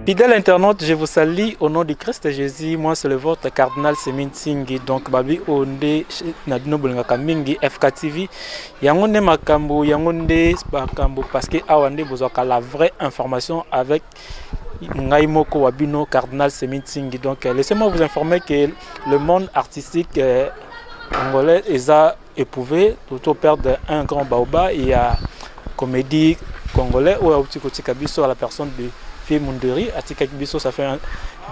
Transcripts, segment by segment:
Fidèle internaute, je vous salue au nom du Christ Jésus. Moi, c'est le vôtre, cardinal Semin Singhi. Donc, babi onde nadino bolinga kamingi FK TV. Yango ne makambo, yango ne makambo parce que awande bozaka la vraie information avec ngai moko wa bino cardinal semi nsingi donc euh, laissez-moi vous informer que le monde artistique euh, angolais eza éprouvé toto perdre un grand baoba il y a comédie congolais oyo auti kotika biso à la personne de fille munderi atikaki biso ça fait un,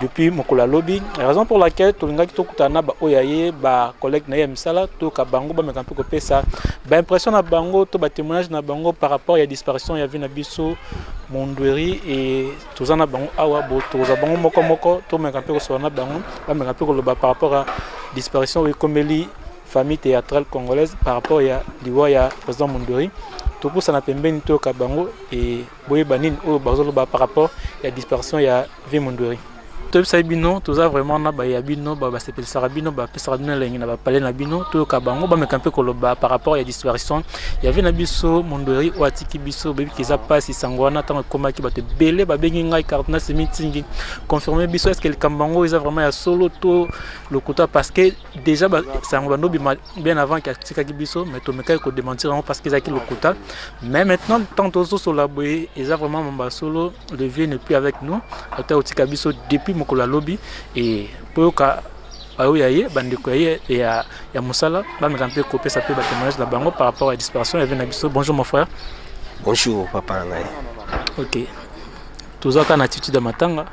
depuis mokolo ya lobi raison pour laquelle tolingaki tokutana na baoyo ya ye bacollègue na ye ya misala toyoka bango bameka mpe kopesa baimpression na bango to batémoignage na bango par rapport ya disparition ya vie na biso mondweri e toza na bango awa bo tokozwa bango moko moko tomeka mpe kosolola na bango bameka mpe koloba par rapport ya disparition oyo ekomeli famille théâtrale congolaise par rapport ya liwa ya président mondweri topusana pembeni toyoka bango e boyeba nini oyo bazoloba par rapport ya disparition ya vie mondweri toyebisaki bino toza vraiment na baye ya bino basepelisaka bino bapesaka bino elengi na bapale na bino toyoka bango bameka mpe koloba par rapport ya disparition ya vie na biso mondweri oyo atiki biso boyebiki eza mpasi sango wana ntango ekomaki bato ebele babengi ngai cardinal semitingi confirme biso eske likambo yango eza vraiment ya solo to lokuta parce que déjà sango bandobima bien avant que atikaki biso mais tomekaki ko démentir yango parce que ezalaki lokuta mais maintenant tant tozosola boye eza vraiment mamba solo le vieux ne plus avec nous ata kotika biso depuis mokolo ya lobi e mpo yoka baoyo ya ye bandeko ya ye ya, ya mosala bameka mpe kopesa mpe batémoignage na bango par rapport ya disparition ya vie na biso bonjour mon frère bonjour papa na ngai ok tozwaka na attitude ya matanga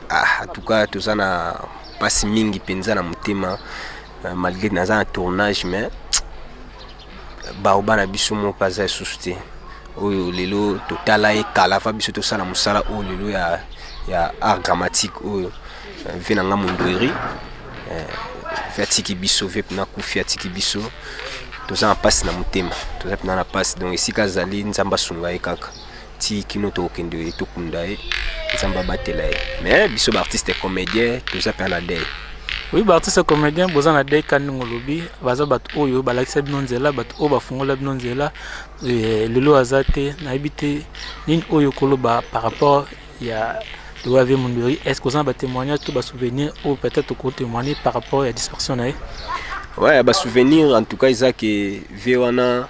Ah, en tout cas toza na pasi mingi penza na motema euh, malgré naza na tournage mais baoba na biso moko aza lisusu te oyo lelo totala ye kala fa biso tosala mosala oyo lelo ya, ya art dramatique oyo euh, ve na nga mondweri euh, ve atiki biso ve mpena kufi atiki biso toza na mpasi na motema toza mpena na mpasi donc esika azali nzambe asunga ye kaka ti kino tokende tokunda ye nzambe abatela ye mais biso baartiste comédien toza mpe na dei oui baartiste comédien boza na dei kani ndenge olobi baza bato oyo balakisa bino nzela bato oyo bafungola bino nzela eh, lelo aza te nayebi te nini oyo okoloba par rapport ya lokola vie mondori est ce que oza na batémoignage to basouvenir oyo peut-être okotémoigne par rapport ya dispersion na ye ouais basouvenir en tout cas eza ke vie wana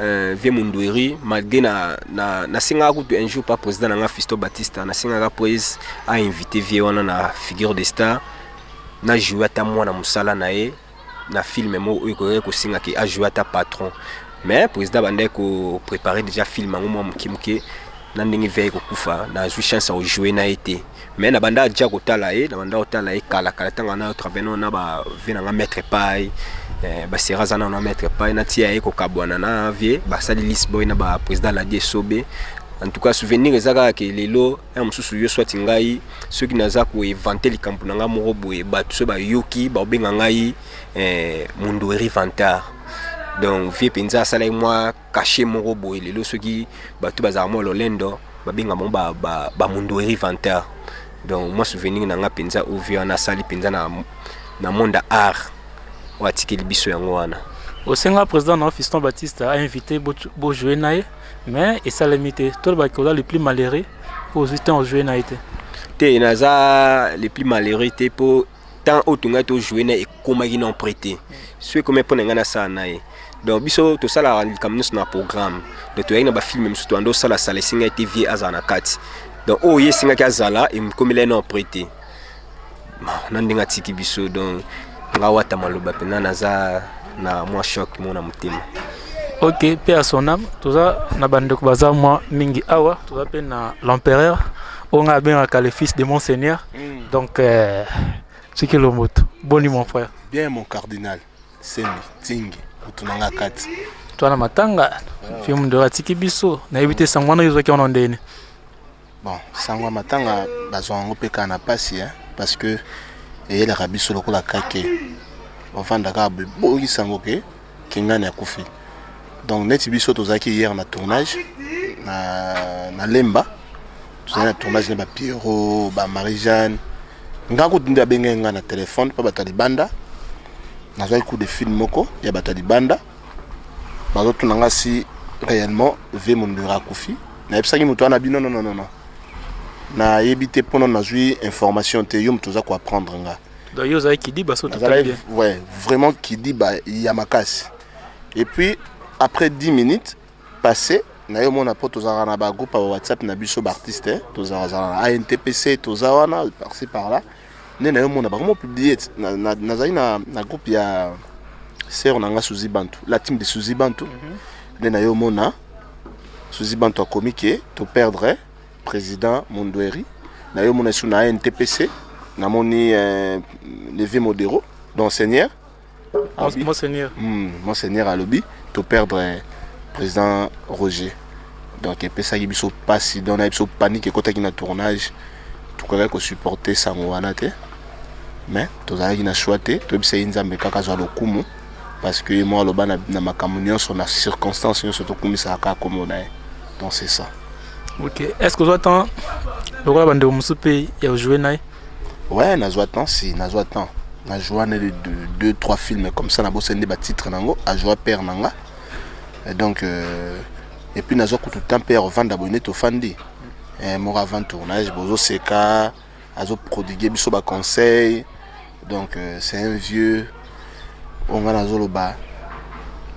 Euh, vieux Mundueri, malgré na, na, na singaka kutu un jour pas président na nga Fisto Batista, na singaka prise a invité vieux wana na figure de star, na jouer ata mwana musala na ye na film mo oyo koyaki kosinga ke a jouer ata patron. Mais président bandaki ko préparer déjà film yango mwa moke moke na ndenge veille kokufa, nazwi chance ya kojouer na ye te. mais na banda déjà kotala ye na banda kotala ye kala kala ntango wana yo travaille nao na bavie na nga maître pai eh, basera aza nao na maître pai natia ye kokabwana na vie basali lisboy na ba président ladi esobe en tout cas souvenir eza kaka ke lelo ya mosusu yo swati ngai soki naza koevante likambo na ngai moko boye bato soki bayoki baobenga ngai eh, mundueri vantard donc vie mpenza asalaki mwa cachet moko boye lelo soki bato bazalaka mwa lolendo babenga bango ba, ba, ba mundueri vanteur donc mwa souvenir na nga mpenza ovi wana asali mpenza na, na monde art oyo atikeli biso yango wana osenga président na fiston baptiste ainvité bojoue na ye mais esalemi te tolobaki oza le plus malheureux mpo ozwi temps ojoue na ye te te naza le plus malheureux te mpo temps oyo tongai tojoue na ekomaki non près te soki ekomi mpo na ngai nasala na ye donc biso tosalaka likambo nyonso na programme donc toyaki na bafilme mosusu toyanda osala sala esenga ete vie azala na kati donc oyo ye esengaki azala ekomela ye non près te na ndenge atiki biso donc nga wata maloba mpena naza na mwa choc mona motema ok mpe ya sonam toza na bandeko baza mwa mingi awa toza mpe na l'empereur oyo ngai abengaka le fils de monseigneur Mm. Donc, euh, Tchiki Lomoto. Boni, mon frère. Bien, mon cardinal. Sembi, Tingi, Utunanga Kati. Toi, na matanga, ah. film de Ratiki Bisso, na évité Sangwana, ils ont qui en ont donné. Bon, Sangwa Matanga, bazo en peka na pasi, hein, parce que, et la rabisso lokola kake. Enfin, d'accord, boyi sangoke. Kingani akufi. Donc neti biso tozalaki hier na tournage na na Lemba. Tozalaki na tournage na ba Pierrot, ba Marie-Jeanne. Nga kutu nde abengaki nga na téléphone pa bato ya libanda. Nazwaki coup de fil moko ya bato ya libanda. Bazotuna nga si réellement vie mondura akufi. Nayebisaki moto wana bino non non non. Nayebi te mpo na nazwi information te yo moto oza ko apprendre nga. Donc yo ozalaki kidiba so tout nazalaki bien. ouais, vraiment kidiba ya makasi et puis après 10 minutes passé naye omona mpo tozalaka na bagroupe ya whatsapp na biso baartiste eh, tozalazala na antpc toza wana parci par là nde naye omona bakoma publie ti- na- na- nazali na, na groupe ya sœur na nga suzi bantu la team de suzi bantu nde naye omona suzi bantu akomi ke toperdre President Mundueri, nayo mona isu na NTPC, namoni eh, Levi Modero, donc Seigneur, alobi, Monseigneur. Hmm, Monseigneur alobi, to perdre eh, President Roger. Donc epesaki biso pasi, donc na biso panique ekotaki na tournage, tokokaki ko supporter sango wana te, mais tozalaki na choix te, toyebisa ye Nzambe kaka azwa lokumu. parce que ye moko aloba na, na makambo nyonso na circonstance nyonso tokumisaka kaka nkombo na ye donc c'est ça ok est ce que ozwa temps lokola bandeko mosusu mpe ya ojoue na ye ouais nazwa temps si nazwa temps najoua na de deux trois films comme ça nabosani nde batitre na yango ajoua père na nga Et donc euh, epuis nazwa kutu temps mpe ya kovanda boye nde tofandi eh, moko avant tournage bozoseka azo prodigue biso ba conseil donc euh, c'est un vieux oyo ngai nazoloba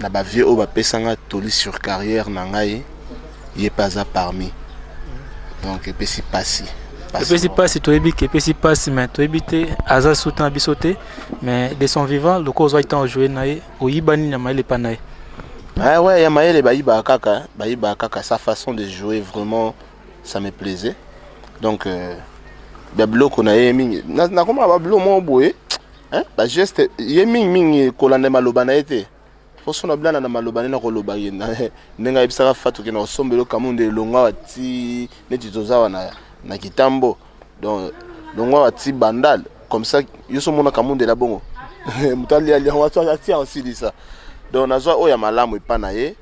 na bavieux oyo bapesa ngai toli sur carrière na ngai ye mpe aza parmi donc epesi mpasi epesi mpasi toyebi ke epesi mpasi mais toyebi te aza suta na biso te mais de son vivant lokola ozwaki ntango ojoue na ye oyiba nini ya mayele epa na ye ah ouais ya mayele bayibaka kaka bayibaka kaka sa façon de jouer vraiment ça me plaisait donc euh, ba biloko na ye mingi nakomaka ba biloko moko boye bageste ye mingi mingi kolanda maloba na ye te poso na bilana na maloba nde nakoloba ye ndenge ayebisaka fatu ke nakosombela okamu nde elongo awa ti neti toza awa na, na kitambo donc longo awa ti bandal comme ça yo so omona kamundela bongo moto alialia wato atia osilisa donc nazwa oyo ya malamu epa na ye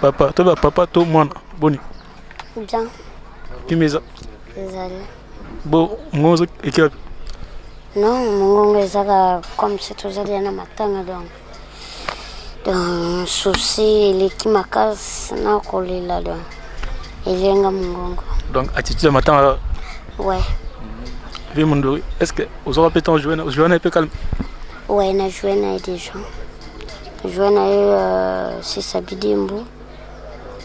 Papa, toi ba papa to mwana boni. Bien. Kimeza. Ezali. Bo mongo ekiwa. Non, mongo ezaka comme si tozali na matanga donc. Donc souci eleki makasi na kolela donc. Elenga mongongo. Donc attitude ya matanga. Ouais. Vie Mondori, est-ce que vous aurez peut-être joué, joué un peu calme Ouais, on a joué déjà. Joie na ye ya euh, Sisa Bidimbu,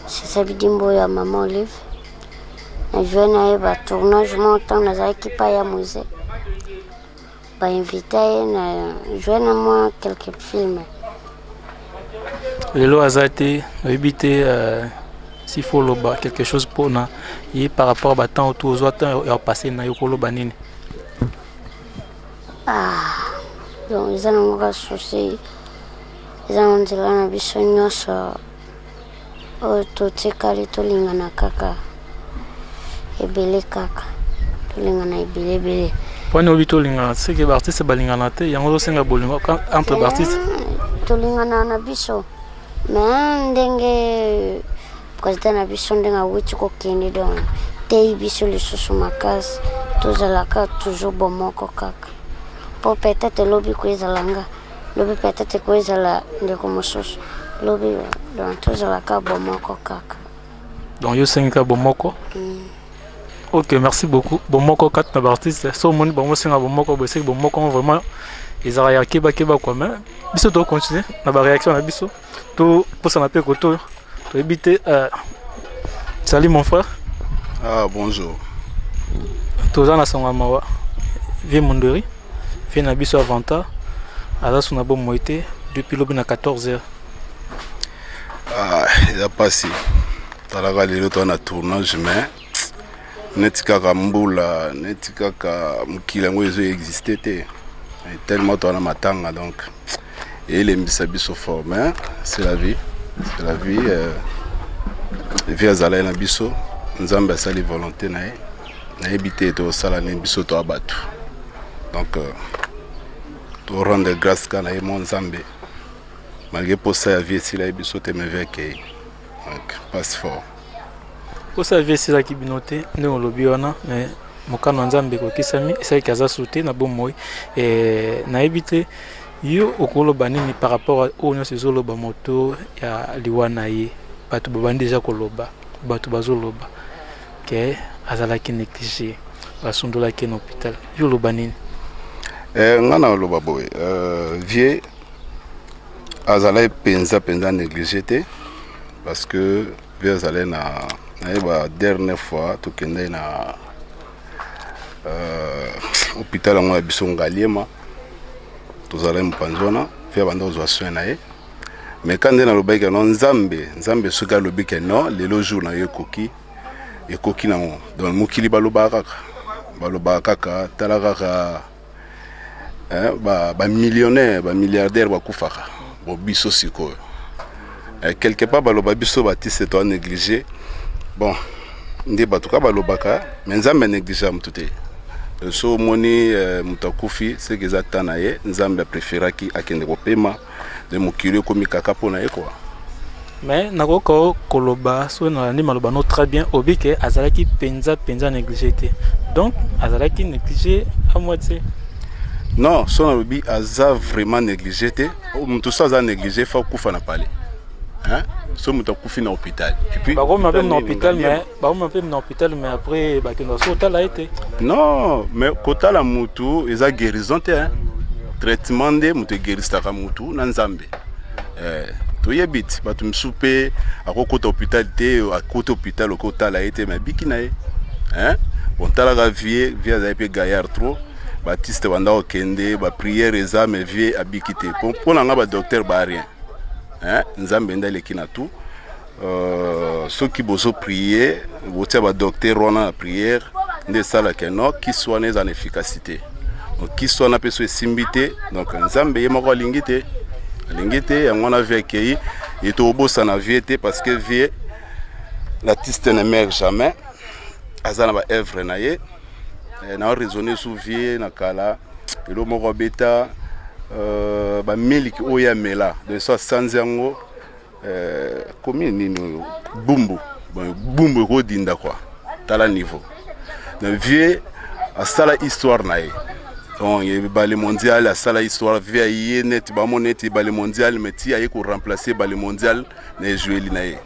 Sisa Bidimbu ya Mama Olive. Na joie na ye ba tournage moko ntango nazalaki pa ya musée. Ba invita ye na joie na mwa quelques films. Lelo aza te, oyebi te euh, s'il faut loba quelque chose pona ye par rapport ba temps otu ozwa temps ya passé na yo koloba nini? Ah, donc eza na moka souci eza na nzela na biso nyonso oyo totikali tolingana kaka ebele kaka tolingana ebele ebele mponi obi tolingana seke baartiste balingana te yango ozosenga bolingo entre baartiste tolingana na biso me ndenge President na biso ndenge awuti kokende donc teyi biso lisusu makasi tozalaka toujours bomoko kaka po peut-être lobi koezala nga lobi peut-être koezala ndeko mosusu lobi donc tozalaka bomoko kaka donc yo osengi kaka bomoko mm. ok merci beaucoup bomoko kati na baartiste so omoni bango osenga bomoko boeseki bomoko vraiment ezalaka ya kebakeba kua mai biso tokocontinue na bareaction na biso To posa na peko to to ebite euh salut mon frère. Ah bonjour. Toza na sango mawa. Vie Mondori. Vie na biso avanta. Aza suna bo moite depuis lobi na 14h. Ah, ya pasi. Talaka lelo to na tournage mais neti kaka mbula neti kaka mokili yango ezo existe te tellement toana matanga donc elembisa biso fort mais c'est la vie c'est la vie euh, vie azalaki na biso nzambe asali volonté na ye nayebi te tosala nini biso toa bato donc euh, torendre grâce ka na ye mo nzambe malgré mposa ya vie esila ye biso te meve akei donc passe fort kosa vie esilaki bino te ndenge olobi wana mais mokano ya nzambe ekokisami esalaki aza sute na bomoi eh, nayebi te yo okoloba nini par rapport oyo nyonso ezoloba moto ya liwa na ye bato babandi deja koloba bato bazoloba ke azalaki néglige basundolaki na hôpital yo oloba nini eh, ngai naloba boye eh, vie azalaki mpenza mpenza néglige te Parce que vie azalaki na naye ba dernière fois tokendaki na euh, hôpital yango ya biso ngaliema tozalaki mopanzi wana vie abanda kozwa soin na ye mais ka nde nalobaki keno nzambe nzambe soki alobi ke non lelo jour na yo ekoki ekoki nango donc mokili balobaka kaka balobaka kaka tala kaka eh, ba, ba millionnaire ba milliardaire bakufaka bo biso sikoyo eh, quelque part baloba biso batiste toa néglige bon nde bato ka balobaka me nzambe anégligea motu te so omoni eh, moto akufi seke eza ta na ye nzambe apreferaki akende kopema nde mokili ekomi kaka mpo na ye kua mais nakoki koloba soki nalandi maloba no très bien obi ke azalaki mpenza mpenza néglige te donc azalaki néglige à moitié non so nalobi aza vraiment néglige te moto so aza néglige fa okufa na palais so moto akufi na hôpital epuis bakomi mabe na hôpital mais bauma mpe na hôpital mais après bakenda so otala ye te non mais kotala mutu eza guérison te hein? traitement nde moto egerisaka mutu na nzambe eh, toyebi ti bato mosusu mpe akokota hôpital te akoti hôpital okotala ye te mais abiki na ye hein? bon talaka vie vie azali mpe gaillard trop batiste banda kokende bapriere eza mais vie abiki te mpo na ngai badocteur ba rien hein? nzambe nde aleki na tout Euh, soki bozo prier botia ba docteur wana na prière nde esalaka no kisi wana eza na efficacité kisi wana mpe so esimbi te donc nzambe ye moko alingi te alingi te yango wana vie akei ye tokobosana vie te parce que vie l'artiste ne meurt jamais aza na baœuvre na ye eh, na raisonne sous vie na kala elo moko abeta euh, bamiliki oyo amela donc so asanzi yango Euh, commune nini oyo bumbu bumbu ekodinda kwa tala niveau na vieux asala histoire na ye donc ebale mondial asala histoire vie ya ye neti bamona ete ebale mondial mais ti aye koremplace ebale mondial na ejueli na ye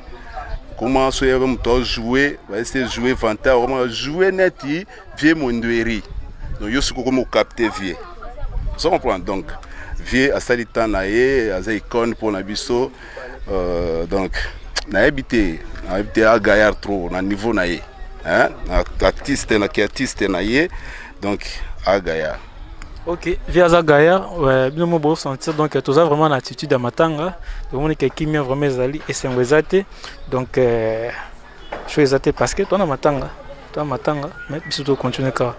koma so yaka moto ajoue baese joue vantard koma joue neti Vieux Mondweri, donc yo soki okomi okapte vieux. Ozo comprendre donc vieux asali temps na ye aza icône mpo na biso euh, donc nayebi te nayebi te a gaillard trop na niveau na ye hein? na artiste na kiartiste na ye donc a gaillard ok vieux aza gaillard euh, bino mo bosentir donc euh, toza vraiment na attitude ya matanga tomoni ke kimia vraiment ezali esengo eza te donc euh, Show eza te parce que toi na matanga, toi matanga, mais biso to continuer ka.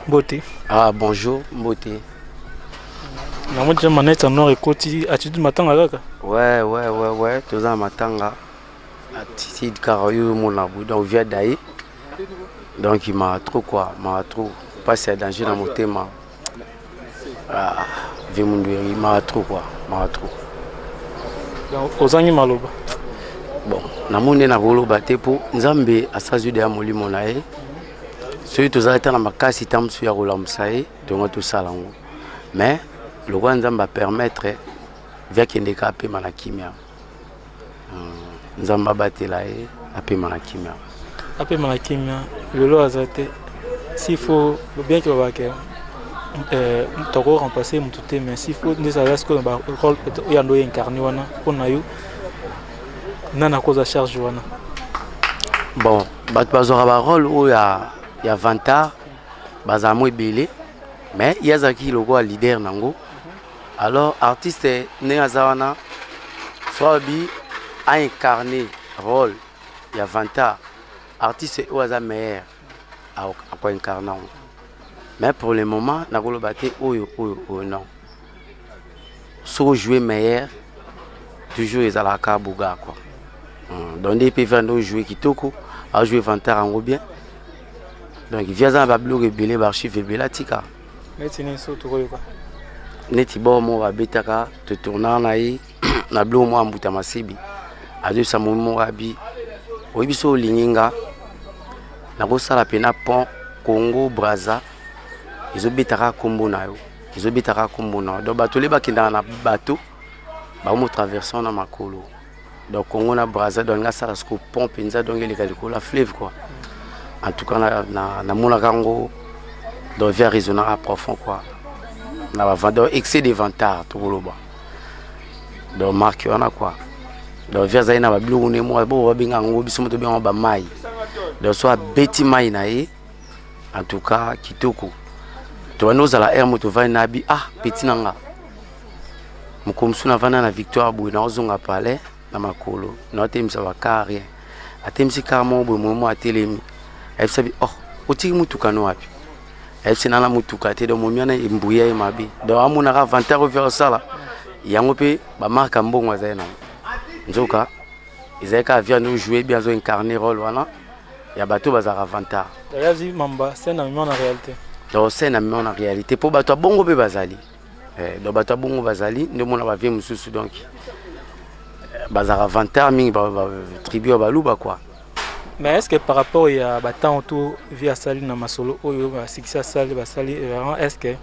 Mbote. Ah bonjour, mbote. Na mode je manette en noir ekoti attitude matanga kaka. Ouais ouais ouais ouais, toza na matanga. Attitude kaka yo mon na bu donc via dai. Donc il m'a trop quoi, m'a trop. Passe à danger dans mon thème. Ah, vie mundueri mara trop quoi, mara trop. Donc ozangi maloba. Bon, namoni na koloba te po Nzambe asazwi deya molimo na ye. Soki tozali ata na makasi ntango mosusu ya kolamusa ye, tongo tosala yango. Mais lokola Nzambe a permettre via kende ka apema na kimia. nzambe abatela ye apema na kimia apema na kimia lelo aza te s'il faut bien que babake euh, toko remplacer motu te mais s'il faut nde ezala sikoyo na barole oyo ando incarne wana mpo na yo nani akoza charge wana bon bato bazwaka barole oyo ya, ya vantard bazala mo ebele mais ye azalaki lokola leader na yango Alors artiste ndenge aza wana Fraubi a incarne role ya vantard artiste oyo aza meilleur ako incarne yango mais pour le moment nakoloba te oyo oyo oyo non soki ojoue meilleur toujours ezalaka boga quoi hmm, donc nde mpe vanda ojoue kitoko ajoue vantard yango bien donc vi aza na babiloko ebele baarchive ebele atika neti nini so tokoyoka neti bor moko abetaka totournaka na ye na biloko moko ya mbuta masebi azoyebisa momi moko abi oyebi so olingi nga nakosala mpena pont congo braza ezobetaka nkombo na yo ezobetaka nkombo na yo donc bato le bakendaka na bato bakomo traverse wana makolo donc Congo na Brazza donc nga sala siko pont penza donc eleka likolo ya fleuve quoi en tout cas na na, na mona kango donc via raisonner à profond quoi na ba vendeur excès de vantard to boloba donc marque wana quoi donc via zai na ba biloko ne mo bo ba benga ngo biso moto benga ba mai donc soit beti mai na ye en tout cas kitoko to bani ozala heure moto vani na bi ah petit na nga mokolo mosusu navanda na victoire boye naozonga palais na makolo naotelemisa bakar rien atelemisi kar moko boye momo atelemi ayebisa bi oh otiki motuka no wapi ayebisi nana motuka te donc momi wana embuya ye mabe donc amonaka avantage oyo fere osala yango mpe bamarka mbongo azali nango nzoka ezali kaka viande ojoue bien azo incarne role wana ya bato bazalaka vantar donc scène amema na réalité mpo bato ya bongo mpe bazali eh, donc bato ya bongo bazali nde omona bavie mosusu donc bazalaka vantard mingi tribu ya baluba kua mais est ce que par rapport ya batemp to vie asali na masolo oyo basikisi asali basali vraiment est ce que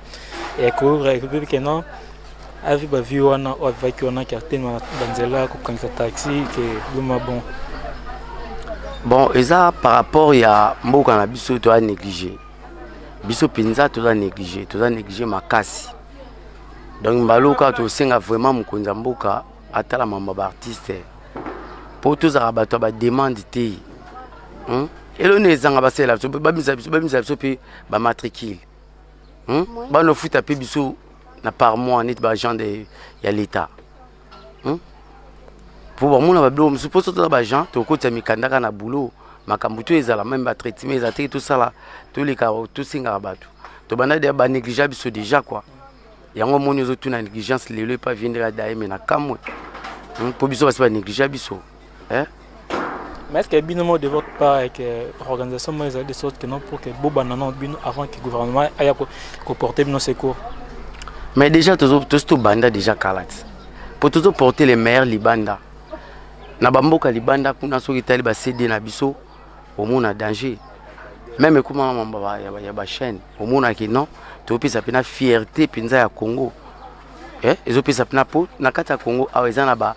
ekoki ke non avi bavie wana oyo avivaki wana ke atema banzela kokangisa taxi ke boma bon bon eza par rapport ya mboka na biso toya néglige biso mpenza toza néglige toza néglige makasi donc mbalo kaka tosenga vraiment mokonzi ya mboka atala mambo ya baartiste mpo tozalaka bato ya bademande te hmm? eloni ezanga basalela biso babimisa biso babimisa biso mpe bamatricule hmm? bana ofuta mpe biso na par mois neti baagent ya l'état hmm? mpo bamona babilo mosusu mpo sotoza bajean tokotisa mikanda kaka na boulot makambo to ezala meme batraitement ezala teke tosala toleka tosengaka bato tobanda deya banégligea biso déjà kua yango omoni ozotuna négligence lelo epa vie ndeka daye me na kamwe mpo hmm? biso basi banégligea biso hein mais est-ce que bino mo de votre part avec euh, organisation moi de sorte que non pour que boba non bino avant que gouvernement aya ko, ko porter bino secours mais déjà tozo tozo to banda déjà kalat pour tozo porter les meilleurs libanda na bamboka libanda kuna soki tali ba CD na biso omona danger meme ekoma mamba ya bachaîne omonaki non topesa mpena fierté mpenza ya congo eh, ezopesa mpena mpo na kati ya congo awa eza na ba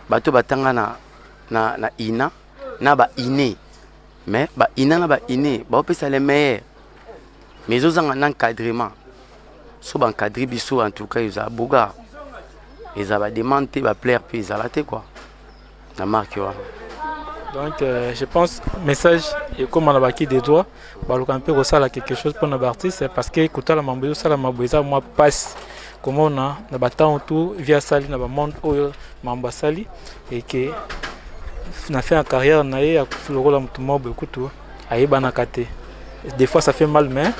Bato batanga na, na, na ina na ba ine mais ba ina na ba ine baopesa le meilleur mais ezozanga na encadrement so baencadre biso en tout cas eza boga eza bademande te baplaire mpe ezala te kua na marke wana donc euh, je pense message ekóma na baki de droit baluka mpe kosala quelque chose mpona baartiste parce que kotala mambo ezosalama boye eza mwa mpasi komona na batango tu vi asali na bamonde oyo mambo asali eke na fin ya carrière na ye akufi lokola motu moko boye kutu ayebanaka te des fois ça fait mal mais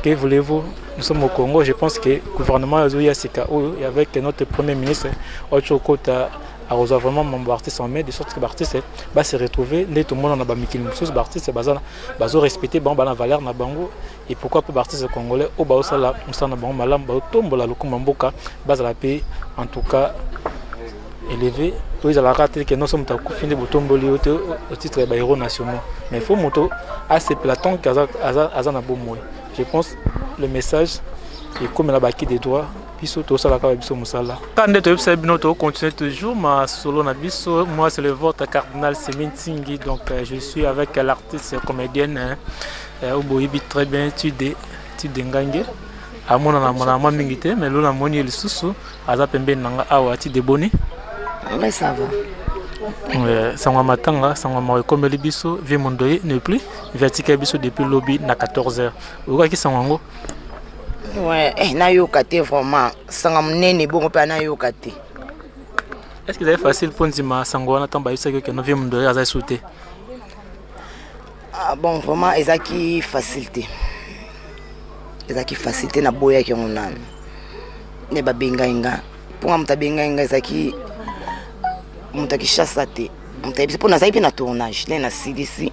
que voulez-vous nous sommes au Congo je pense que gouvernement azoya sika oyo avec notre premier ministre oyo tokota akozwa vraiment mambo ba artiste en mai de sorte que ba artiste ba se retrouver nde tomona na ba mikili mosusu ba artiste baza bazo respecter bango bana valeur na bango et pourquoi pas ba artiste congolais oyo baosala mosala na bango malamu baotombola lokumu ya mboka bazala mpe en tout cas élevé oyo ezalaka te ke nyonso moto akufi nde botomboli yo te au titre ya ba héros nationaux mais il faut moto asepela tant que aza, aza, aza na bomoi je pense le message ekomela baki de droit biso tosala kaka biso mosala kaka nde toyebisa bino tocontinue toujours masolo na biso moi c'est le votre cardinal semin tingi donc euh, je suis avec l'artiste comédienne hein, euh, oboyebi très bien tude tude ngange amonana monana mwa mingi te mais lona moni ye lisusu aza pembeni na nga awa tude boni mais ça va Euh, sango ya matanga sango ya mawa ekomeli biso vie mondoye ne plus viatika biso depuis lobi na 14 heures oyokaki sango yango Ouais, eh, nayoka te vraiment sanga monene ebongo mpe nayoka te est ce que ezali facile mpo ndima sango wana ntango bayebisaki yo keno vie mondo aza esu te ah, bon vraiment ezalaki facile te ezalaki facile te naboyaki yango nanu nde babengai nga mpo nga moto abengai nga ezalaki moto ya kinshasa te moto ayebisi mpo nazalaki mpe na tournage nde nasilisi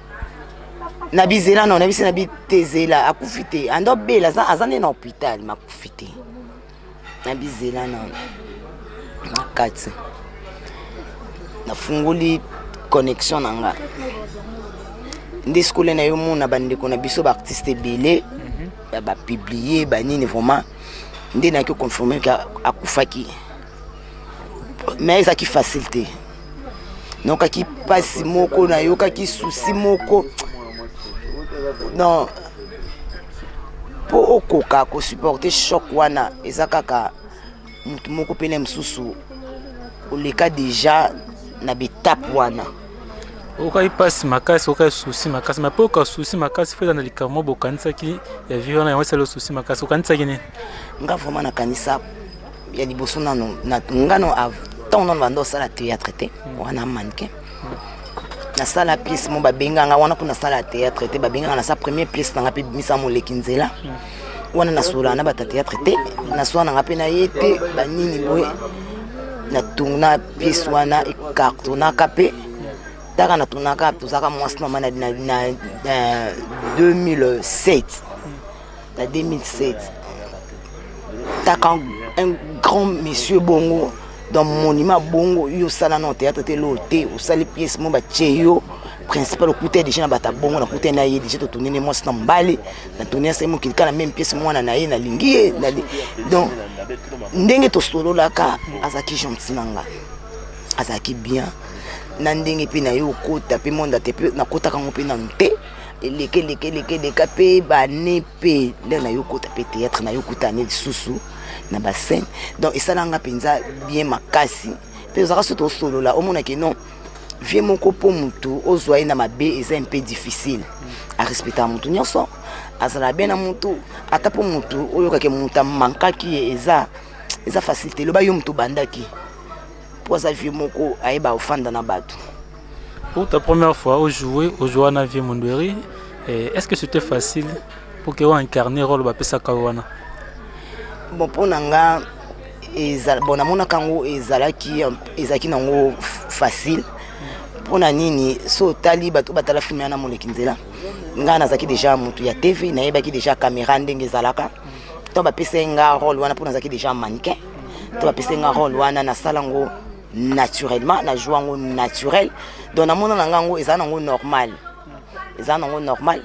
na bizela nao na biso na bitezela akufi te ando bela aza nde na hôpital makufi te na bizela nao na kati nafungoli connexion na nga nde sikola na yo mona bandeko na biso baartiste ebele mhm. bapiblie banini vraiment nde nayaki confirme ke akufaki me ezalaki facile te nayokaki mpasi moko nayokaki susi moko non mpo okoka kosuporte choc wana eza kaka motu moko mpe na mosusu oleka deja na betape wana okaki mpasi makasi okaki susi makasi mape oka susi makasi fo eza na likambo moko bokanisaki ya vie wana yango esali osusi makasi okanisaki nini nga vraimen nakanisa ya liboso nano nga no ntango nano banda osala théâtre te hmm. wana mannequin nasala pièce mo babenganga wana mpo nasala théâtre te babenganga nasa première pièce nanga mpe bimisa moleki nzela hmm. wana nasolana na bata théâtre te nasola nanga mpe na ye te banini boye natuna pièce wana ekartonaka mpe taka natunaka tozalaka mwasi na mama na 2007 na 2007 taka un grand monsieur bongo dans monument bongo yo osala na théâtre te loo te osali pièce mo batye yo principal okuta ye deja na bato ya bongo nakuta ye na ye deja totuni ne mwasi na mobali natuni asali mokili kaka na meme pièce mwana na ye nalingi ye donc ndenge tosololaka azalaki gentil na ngai azalaki bien na ndenge mpe na ye okota mpe mondate mpe nakotaka yango mpe nanu te elekelekeleka mpe bane mpe nde na yo kota mpe théâtre na yo kutane lisusu na bascène donc esala nga mpenza bien makasi mpe ozalaka soki tosolola omonake non vie moko mpo motu ozwa ye na mabe eza mpe difficile arespectaka motu nyonso azala bien na motu ata mpo motu oyokake motu amankaki ye eza eza facilité loba yo motu obandaki mpo aza vie moko ayeba ofanda na bato Pour ta première fois au jouer, au jouer na Vieux Mondweri, eh, est-ce que c'était facile pour que incarner rôle ba pesa kawana? Bon pour nanga ezal bon namona kango ezalaki ezalaki nango facile pour na nini so tali bato batala film yana moleki nzela ngai nazalaki déjà moto ya tv nayebaki déjà caméra ndenge ezalaka to bapesaki nga role wana mpo nazalaki déjà mannequin to bapesaki nga role wana nasala ngo naturellement na joue yango naturel donc namona na nga yango eza nango normal eza nango normal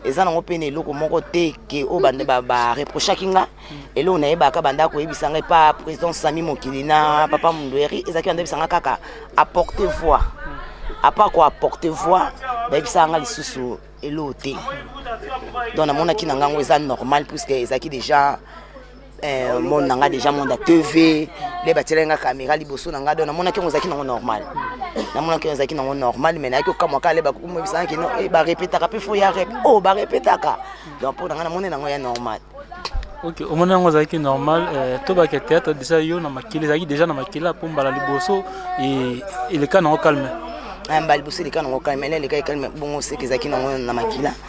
eza nango mpe na eloko moko te ke oyo bareprochaki ba, ba nga eloko nayebaka bandaka koyebisa ngai pa président sami mokili na papa mundueri ezalaki bandebisa nga kaka apporte voix apart koapporte voix bayebisaka nga lisusu eloko te donc namonaki na ngango eza normal puisque ezalaki déjà eh, monde na ngai déjà monde ya tv nde batielaki ngai caméra liboso na ngai do namonaki yango ezalaki nango normal namonaki yango ezalaki nango normal mais nayaki okamwa kale bakomobisanaki no eh, barepetaka mpe fo ya rep o oh, barepetaka donc mpo na ngai namoni nango ya normal ok omoni yango ezalaki normal eh, tobake théâtre déjà yo na makila ezalaki déjà na makila mpo mbala liboso eh, eleka nango calme mbala liboso eleka nango calme ele elekaki calme bongo seke ezalaki nango na makila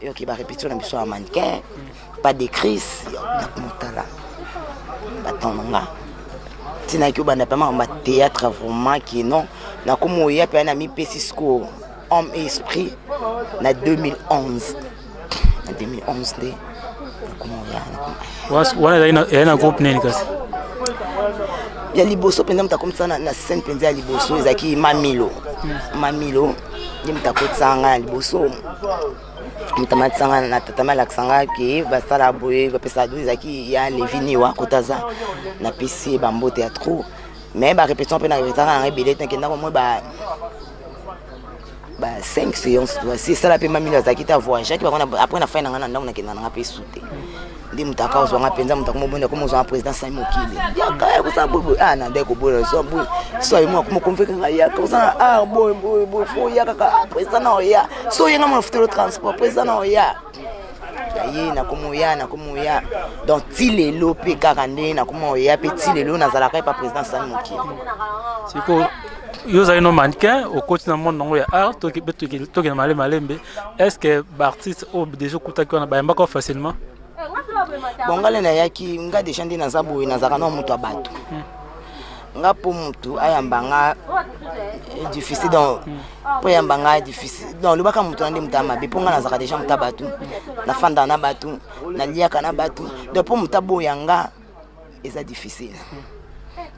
yoki ba repetition na biso ya mannequin pas de crise na kumotala batongo nga ntinaki obanda mpe makambo ya théâtre vraiment ke non nakomi oya mpe na mipesi sikoyo homme et esprit na 2011 na 2011 nde nakomi oya wana ezali na groupe nini kasi ya liboso mpenza moto akomisana na scène mpenza ya liboso ezalaki mamilo mamilo ye moto akotisaka ngai na liboso moto amatisa ngai na tata malakisa ngai ke basala boye bapesa do ezalaki ya leviniwa kota aza napesi ye bambote ya trop mais barépétition mpe na repetaka nanga ebele te nakenda komoi ba ba 5 séance toasi esala mpe mamilo azalaki te avoyagaki bango après na fai na ngai na ndambo nakenda nanga mpe su te nde moto aka ozwanga mpenza moto akoma obonda koma ozwanga président sai mokili yaka ya kosala boyeboye a ah, na ndai kobona ozwa boye so aye moko mokonveke nga yaka ozana a ah, boye boye boye fo oya kaka ah, président na oya so oyenga mona futelo transport président na oya naye nakoma oya nakoma oya donc ti lelo mpe kaka nde nakoma oya mpe ti lelo nazalaka epa président sai mokili sikoyo yo ozali no mannequin okoti na monde nango ya art tokende malemalembe est ce que baartiste oyo oh, deja okutaki wana bayambaka facilement bon ngai nde nayaki ngai deja nde naza boye nazalaka na moto ya bato hmm. nga mpo motu ayamba nga eh, difficile donc mpo hmm. ayamba nga difficile donc olobaka motu na nde motu ya mabe mpo nga nazalaka deja motu ya bato nafandaka na bato naliaka na bato donc mpo motu aboya nga eza difficile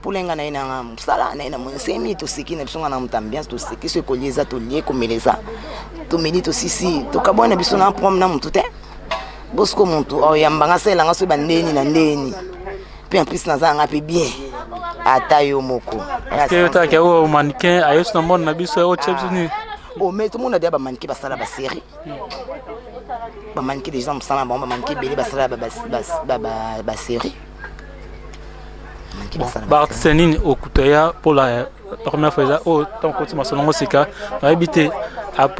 pulenga na ye na nga mosala na ye na moni semi toseki na biso nga na moto ambiance toseki so ekoli eza tolie komela eza tomeli tosisi tokabwani na biso na problème na motu te bosiko motu oyamba nga salela nga so bandeni na ndeni mpe en plus naza yanga mpe bien ata yo moko mannequin ayesu na mone na biso otie biso nini ometomona deya bamanike basala baserie bamanike deja mosala na bango bamanike ebele basala baserie baartiste nini okuta ya mpo la eh, première fois eza oyo ntango koti masolo yango sika nayebi te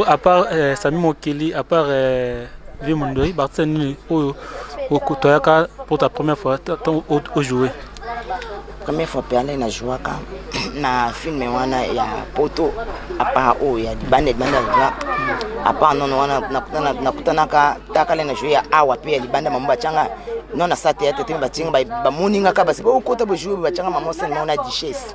apart eh, sami mokeli apart eh, vie mondoi baartiste nini oyo okuta yaka mpo ta première fois ntango ojoue Première fois perle na jouaka na film wana ya poto apart oyo ya libanda libanda ya libanda apart nono wana nakutanaka takale na joue ya awa mpe ya libanda mamo batianga non na sa théâtre te batianga bamoni nga kaka basi bokota bojoue batianga mamo sene mao na duchesse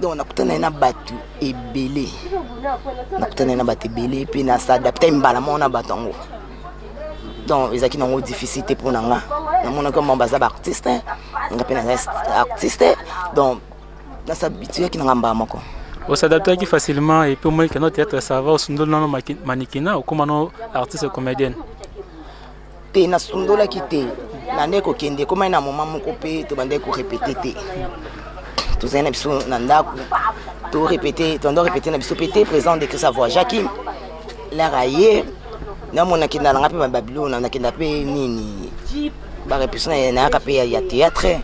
donc nakutana ye na bato ebele nakutana ye na bato ebele mpe na s'adapte mbala moko na bato yango donc ezalaki nango difficile te mpo na nga namonaki mama baza baartiste nga mpe naza artiste donc nasabituyaki na nga mbala moko osadaptaki facilement epuis omoniki no théâtre sava osundoli nano manikina okoma no artiste comédienne te nasundolaki te nandaki kokende ekomaki na moma moko mpe tobandaki korepete te tozali na biso na ndako torepete tobanda korepete na biso mpe te président de christ avoyageaki lare aye namona kendaka nanga mpe babilona nakenda mpe nini barepetition nayaka mpe ya théâtre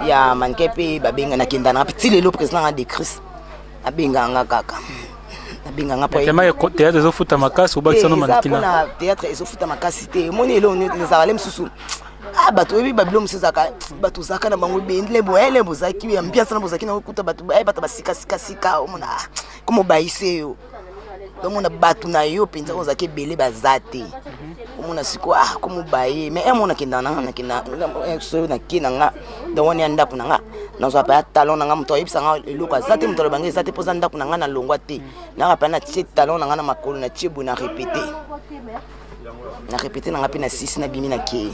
ya manike mpe babenga nakenda nanga mpe ti lelo président nanga de christ abengaka nga kaka abenga nga payema théâtre ezofuta makasi obakisa no manekina mpona théâtre ezofuta makasi te omoni elo ezalaka le mosusu ah bato oyebi babilo mosusu ezalaka bato ozalaka na bango bendele boyele bozalaki ambiance na bozalaki na okuta bato baye bato basikasikasika omona ah, komobayise yo omona bato na yo mpenza oyo ozalaki ebele baza te omona sikoyo ah komobaye mais emona kenda na nakenda soyo nake na nga donc wana ya ndako na nga nazwa mpe ya talon na nga moto ayebisa nga eloko aza te moto aloba nga eza te mpoza ndako na nga na longwa te naka mpe natie talon na nga na makolo natie boye na repete na repete na nga mpe na sisi na bimi na kei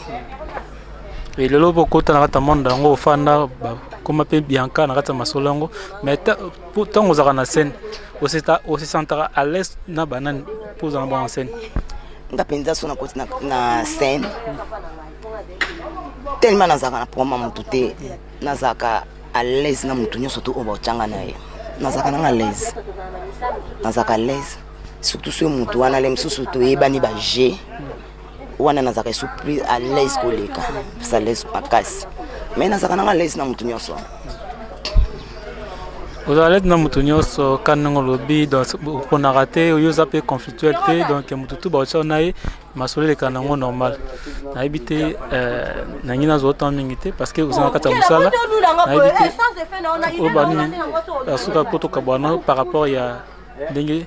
e lelo bokota na kati ya monde yango ofanda bakoma mpe bianca na kati ya masolo yango mais ntango ozalaka na scène osesantaka à l'aise na banani mpo ozala bango na scène nga mpenza so nakoti na scène tellement nazalaka na problème ya motu te nazalaka à l'aise na motu nyonso to oyo baotyanga na ye nazalaka nanga à l'aise nazalaka à l'aise surtout soki motu wana le mosusu toyebani baje wana nazalaka esu plus à l'aise koleka plus à l'aise makasi mais nazalaka nanga alaise na motu nyonso ozala alaise na motu nyonso ka ndenge olobi oponaka te yo oza mpe conflictuel te donc motu tu baotya na ye masolo elekana yango normal nayebi te euh, nangi nazwa temps mingi te parce que oza na kati ya mosala nayebi te oyo banini asuka mpo tokabwana par rapport ya ndenge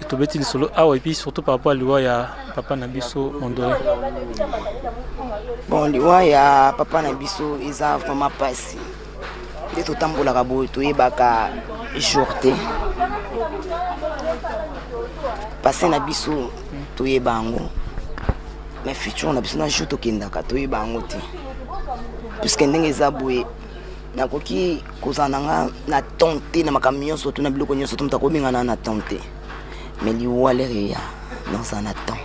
tobeti lisolo awa epuis surtout par rapport ya liwa ya papa na biso mondole bon liwa ya papa na biso eza vraiment mpasi nde totambolaka boye toyebaka jour te pase na biso toyeba yango mais futur na biso na jour tokendaka toyeba yango te puiske ndenge eza boye nakoki kozala na nga na temps te na makambo nyonso to na biloko nyonso to moto akobenga na na temps te me liwa lere ya naza na temps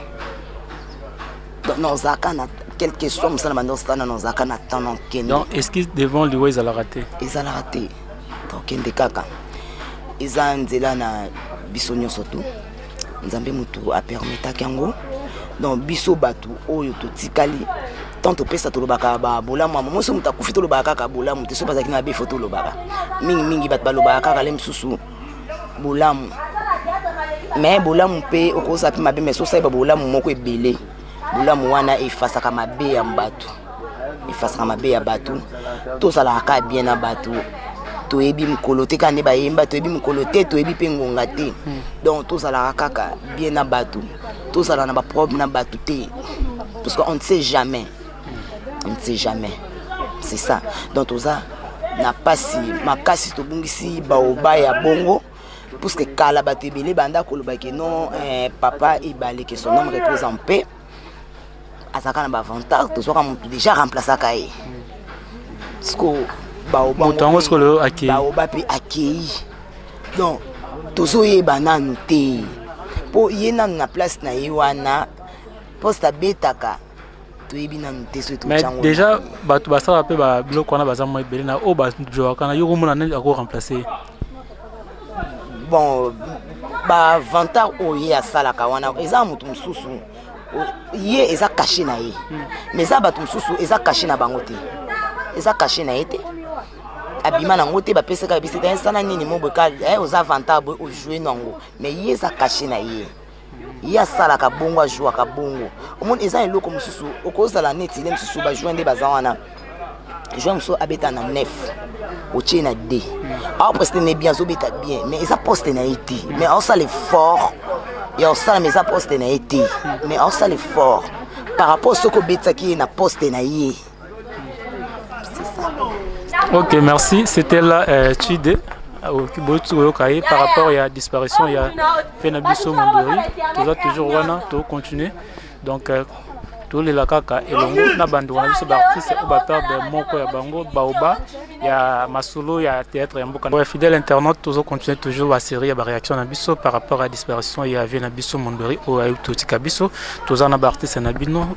nazalaka na quel que soit mosala banda osala nazalaka na temps na okende donc excuse devant liwa ezalaka te ezalaka te tokende kaka eza nzela na biso nyonso tu nzambe motu apermetaki yango donc biso bato oyo totikali tant topesa tolobaka babolamu yango moso moto akufi tolobaka kaka bolamu te soki bazalaki na befo tolobaka mingimingi bato balobaka kaka le mosusu bolamu me bolamu mpe okozala mpe mabe me sosayeba bolamu moko ebele bolamu wana efasaka mabe ya bato efasaka mabe ya bato tozalaka kaka bien na bato toyebi mokolo te kaka nde bayemba toyebi mokolo te toyebi mpe ngonga te hmm. donc tozalaka kaka bien na bato tozala na baproblème na bato te parce qu'on ne sait jamais on ne sait jamais c'est ça donc toza na mpasi makasi tobungisi baoba ya bongo parce que kala bato ebele banda koloba ke non eh, papa ebale ke son homme repose en paix azalaka na baavantage tozwaka motu déjà remplaceaka ye siko baobamoto yango siko lelo akei baoba mpe akei donc tozoyeba nanu te mpo ye nanu na place na ye wana poste abetaka toyebi nanu te soki mais déjà bato basalaka mpe biloko wana baza mwa ebele na oyo bajowaka na yo komona nani ako remplace bon bavantar oyo ye asalaka wana eza moto mosusu ye eza kashe na ye hmm. mais eza bato mosusu eza kashe na bango te eza kashe na ye te abima nango te bapesaka bisita esana nini moboka eh, oza vantar boye ojoue nango mais ye eza kashe na ye ye asalaka bongo ajouaka bongo omoni eza eloko mosusu okozala neti ne mosusu bajoue nde baza wana joue mosusu abeta na nef otie na d awa poste ne bien azobeta bien mais eza poste na ye te mais aosala effort ya kosala mais eza poste na ye te mais aosala effort par rapport soki obetisaki ye na poste na ye Ok, merci. C'était là euh, Chide. Ah, Oyokaye par rapport à la disparition, il y a Fenabiso Mondori. Tout ça, toujours Wana, tout continuer. Donc, euh, tout les lakaka et l'ongo, na bando, na biso d'artistes, ou bapère de Moko ya Bango, Baoba, il y a Masolo, il y a Théâtre, il y a Mboka. Ouais, fidèle internaute, tout ça, continuer toujours la série, la réaction na biso par rapport à la disparition, il y a Fenabiso Mondori, ou Ayuto Tikabiso, tout ça, na d'artistes, na bino,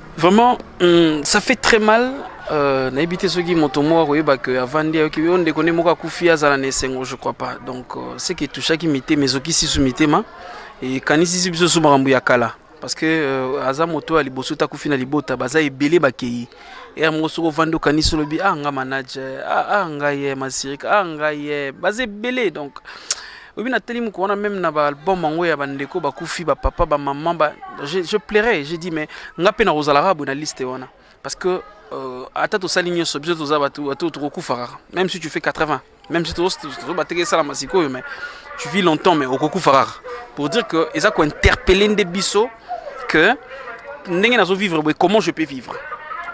Vraiment, hum, ça fait très mal. Euh, nayebi te soki moto moko akoyeba ke avandi ayoki yo ndeko nde moko akufi azala na esengo je crois pas donc euh, ce qui touchaki mitema ezokisi su mitema ekanisisi biso su makambo ya kala parce que euh, aza moto ya liboso te akufi na libota baza ebele bakei ere moko soki ovandi okanisi olobi ah nga manager ah, ah nga ye masirika ah nga ye baza ebele donc Oyebi na teli moko wana meme na ba album yango ya ba ndeko ba kufi ba papa ba maman ba je, je pleurais j'ai dit mais nga pe na kozala kaka na liste wana parce que euh, ata tosali nyonso biso toza bato bato tokokufa kaka même si tu fais 80 même si tozobateka esalama sikoyo mais tu vis longtemps mais okokufa kaka pour dire que eza kointerpele nde biso que ndenge nazo vivre boye comment je peux vivre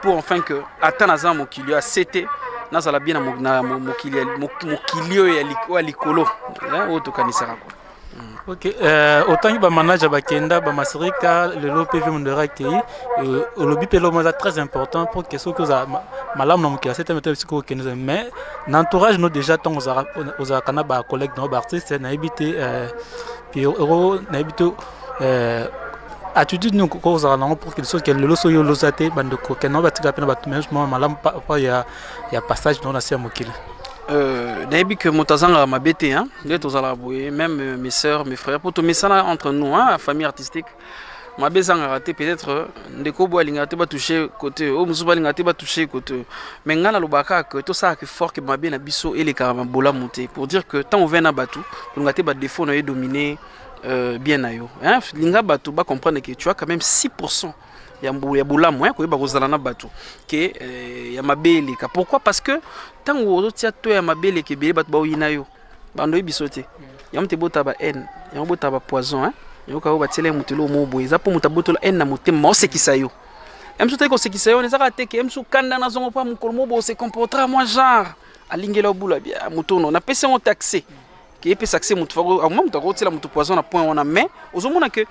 pour enfin que ata naza mokili ya sete nazala bien na mokili oyo ya likolo hein, oyo tokanisaka kua ok euh, otangi bamanager bakenda bamasirika lelo mpe vi mondero akei euh, olobi mpe eloko eza très important mpo ke soki oza malamu na mokili asete mete bisika okende mais na entourage no déjà ntango ozalaka na bacollègue na yo baartiste nayebi te euh, nayebi te euh, attitude nini okoki kozala nango pour quelque chose ke lelo soki oloza te bandeko kende yango batika mpe na bato meme mwa malamu pa ya, ya passage nango na se ya mokili euh, nayebi ke moto azangaka mabe te nde tozalaka boye meme euh, mes sœurs mes frères mpo tomesana entre nous hein, famille artistique mabe ezangaka te peut-être euh, ndeko boye alingaka te batouche kote oyo mosusu balingaka te batouche kote mais ngai nalobaka kaka ke tosalaka effort ke mabe na biso elekaka mabolamu te pour dire que ntango ovai na bato olingaka te badefo na yo edomine Euh, bien na yo hein? linga bato ba comprendre que tu as quand même 6% ya mbu ya bolamu hein? koyeba kozala na bato ke euh, ya mabe eleka pourquoi parce que ntango ozotia to ya mabe eleka ebele bato baoyina yo bando oyebi biso te yango te botala ba haine yango botala ba poison hein? yango kayo batiela ye moto eloo moo boye eza mpo moto abotola haine na motema osekisa yo emsu teki kosekisa yo ezaka te ke emsu kanda nazongo mpo mokolo mo bo se comportera moi genre alingela obula bia motono napesi yango taxe ke epesa accès moto fako akoma moto akotila moto poison na point wana mais ozomona que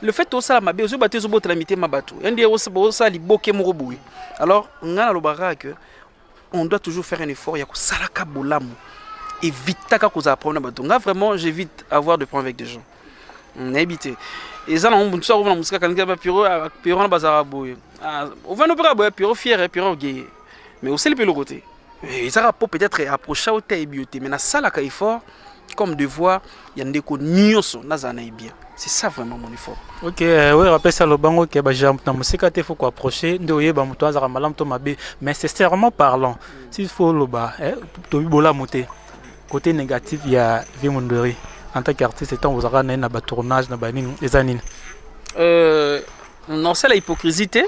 le fait osala mabe ozoyeba te ozobotela mitema bato yandi osala liboke moko boye alors ngai nalobaka que on doit toujours faire un effort ya kosalaka bolamu evitaka kozala problème na bato ngai vraiment j'évite avoir de problème avec des gens nayebi te eza nango motu so akovana mosika kanisa bapiro piro wana bazalaka boye ovanda mpe kaka boye piro fiere piro geye mais oseli mpe eloko te Eh, ezaka mpo peut-être approcha o te ayebi yo te mais nasalaka effort comme devoir ya ndeko nyonso nazala na ye bien c'est ça vraiment mon effort ok euh, oyo apesa lobango ke baja na mosika te fo koapproche nde oyeba moto azalaka malamu to mabe mais sincèrement parlant si fo oloba eh, tobi bolamu te côté négatif ya vie mondori en tant qu'artiste ntango ozalaka na ye na batournage na banini eza nini euh, Nasala hypocrisie te.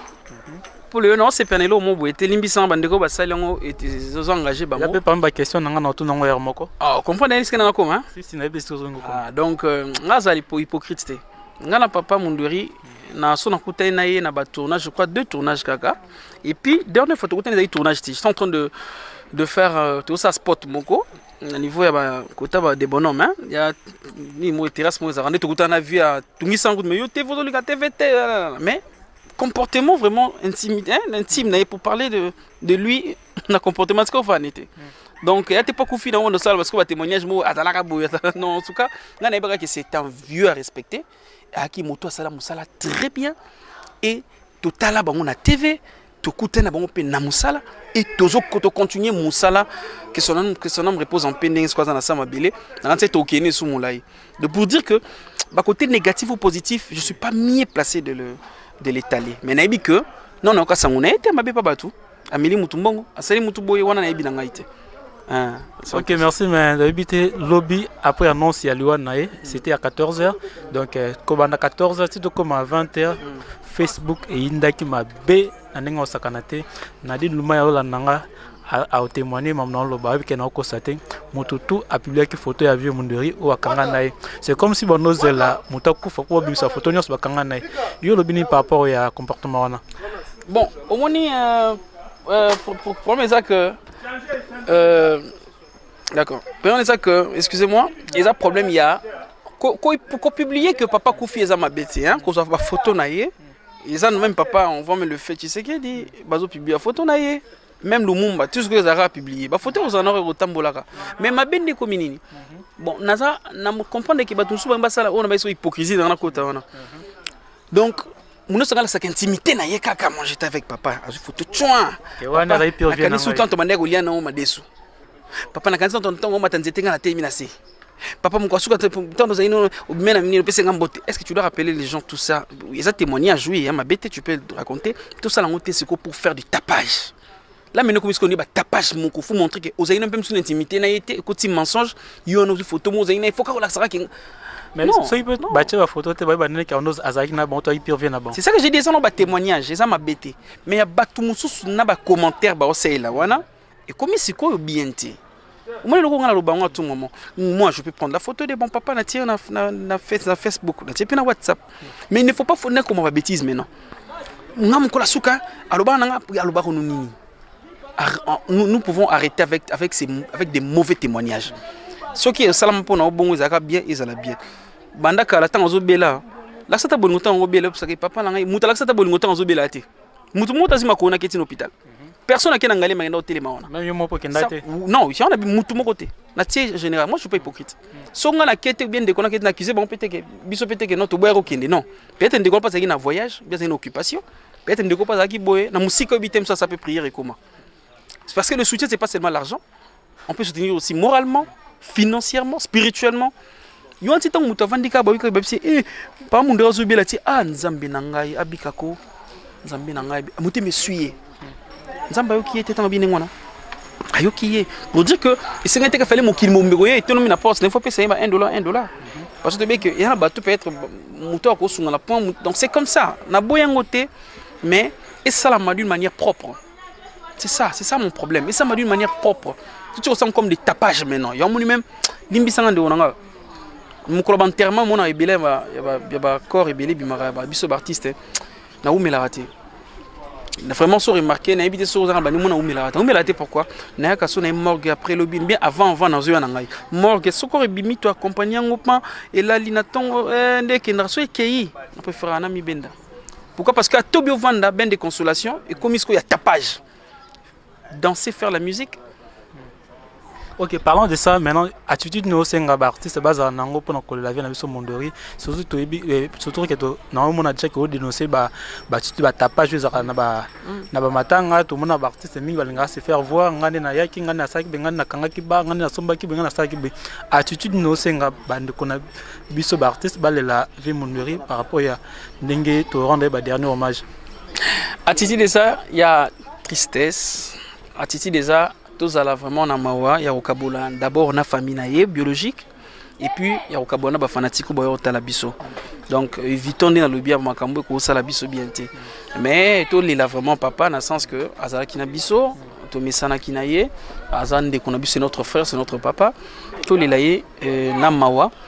Pour le non, c'est Pernelo Mobo. Et Telimbi sans bande ko basali yango et ils ont engagé bango. Ya pe pam ba question nanga na tout nango ya moko. Ah, comprendre est-ce que na ko hein? Si si na pe sozo ngoko. Ah, donc euh, nga zali po hypocrite te. Nga na papa Munduri na so na kutani na ye na ba tournage, je crois deux tournages kaka. Et puis dernière fois tokutani ezali tournage ti. Je suis en train de de faire euh, tout ça spot moko. na niveau ya ba kota ba de bonhomme hein ya ni mo terrasse mo ezaka ndeto kuta na vie ya tungisa ngutu mais yo te vozo lika te vete mais comportement vraiment intime hein, intime na pour parler de de lui na comportement siko fa nete mm. donc ya te pas kufi na wono sala parce que ba témoignage mo azalaka boya non en tout cas nga na yebaka que c'est un vieux à respecter aki moto asala musala très bien et totala bango na TV tokutana bango mpe na mosala e tozokontinue mosala que son âme, que son âme repose en paix ndenge soko aza na sa mabele nanga nse tokende esu molai de pour dire que bakote négatif ou positif je suis pas mieux placé de le de l'étaler mais nayebi que non nayoka sango na ye te mabe pa bato ameli mutu mbongo asali mutu boye wana nayebi na ngai te ah, ok merci mais nayebi te lobi après annonce ya liwa na ye c'était à 14 heures donc euh, kobanda 14 heures ti tokoma 20 heures mm. facebook eyindaki mabe na ndenge osakana te nadi luma ya olanda nga aotémoigne mamu na oloba ayebi ke naokosa te moto tu apubliaki foto ya vieux munderi oyo akanga na ye c'est comme si banozela moto akufa mpo babimisa foto nyonso bakanga na ye yo olobi nini par rapport ya comportement wana Bon, omoni euh, euh, problème eza que euh, d'accord. Problème eza que excusez-moi, eza problème il y a ko, ko, ko publier que papa Koufi eza mabe te hein, kozwa ba photo na ye. Eza même papa, on voit mais le fait, tu sais qu'il dit bazo publier photo na ye. Même Lumumba, tout ce que Zara a publié, ba photo aux anores au Tambolaka. Mais ma bende ko minini. Bon, naza na comprendre que ba tout souba mbasala on a ba hypocrisie dans la côte wana. donc muno sanga lasaka intimité na ye kaka moi j'étais avec papa azwi foto tchwa nakanisi utanto bandaki kolia nango madesu papa nakanisi tanto ntango omata nzete ngai nateyemi na se papa moko asuka ntango ozali no obimela mingi opesa ngai mbote est ce que tu dois rappeler les gens tout ça eza témoignage oui ya mabe te tu peux raconter tosala yango te sikoyo pour faire du tapage la mene okomi sikoyo nde batapage moko fo montre ke ozali na mpe mosusu na intimité na ye te ekoti mensonge yo wana ozwi foto mo ozali na ye fo kaka olakisaka ke mais soki mpe batye bafoto te bayeba nini kaondo azalaki na bango to ayipire vie na bango c'est ça que j'ai dit eza na batémoignage eza mabe te mais ya bato mosusu na bacommentaire baosalela wana ekomi sikoyo bien te omoni eloko ngai naloba yango à tout moment moi je peux prendre la photo de bon papa na tie na, na, na, face, na facebook na tie mpe na whatsapp mais il ne faut pas fo nakoma babétise maintenant nga mokola suka alobaka na nga alobaka no nini nous, nous pouvons arrêter avec, avec, ces, avec des mauvais témoignages soki esalama mpo na yo bongo ezalaka bien ezala bien banda kala ntango azobela lakisa ta bolingo ntango obela osaka papa na ngai moto alakisa ta bolingo ntango azobela te moto moto azima koonaki etina hôpital personne akenda ngali makenda otelema wana même yo moko kenda te non ya wana mutu moko te na tie général moi je suis pas hypocrite so nga na kete bien ndeko na kete na accuse bango peut que biso peut que non to boya ko kende non peut-être ndeko na pasaki na voyage bien une occupation peut-être ndeko pasaki boye na musika obite msa ça peut prier et comment c'est parce que le soutien c'est pas seulement l'argent on peut soutenir aussi moralement financièrement spirituellement yo anti ntango moto avandi kaka bayoki babisi e eh, pa mondo azobela ti a ah, nzambe na ngai abika ko nzambe na ngai motema eswi ye nzambe ayoki ye te ntango abini ngwana ayoki ye pour dire que esengeli te kafale mokili mobimba koye etonomi na porte nefo pesa ye ba 1 dollar 1 dollar parce que tobeki eya na bato peut-être moto akosunga na point donc c'est comme ça naboya yango te mais esalama d'une manière propre C'est ça, c'est ça mon problème. Et ça m'a d'une manière propre. Tu te ressens comme des tapages maintenant. Y'a mon même limbisanga de onanga. Mon club enterrement mon ebele ba ya ba corps ebele bimara ba biso ba artiste. Hein. Na umela raté. Na vraiment so remarqué na ebité so zanga bani mon na umela raté. Umela raté pourquoi Na ya kaso na morgue après lobby bien avant avant na zo na ngai. Morgue so ko rebimi to accompagner ngopa et la lina tongo eh ndeke na so ekeyi. Na préfère na mi benda. Pourquoi Parce que Tobio Vanda, Ben de Consolation, et comme il y a tapage. Danser, faire la musique. Ok, parlons de ça. Maintenant, attitude nous c'est un artiste base en ango pour nous la vie na biso mondori. Surtout to eh, surtout que to na on a déjà que dénoncer ba ba tu ba tapage les na ba na ba matanga tout mon artiste mingi balinga se faire voir ngane na yaki ngane na saki ngane na kanga ki ba ngane na somba ki ngane na saki. Attitude nous c'est un bande qu'on a biso ba artiste balela Vie Munuri par rapport ya ndenge to rendre ba dernier hommage. Attitude eza ya tristesse, attitude eza tozala vraiment na mawa ya kokabola d'abord na famille na ye biologique et puis ya kokabola na ba fanatiques boyo otala biso. Donc évitons nde nalobi ya makambo ekosala biso bien te. Mais tolela vraiment papa na sens que azalaki na biso tomesanaki na ye aza ndeko na biso c'est notre frère c'est notre papa tolela ye euh, na mawa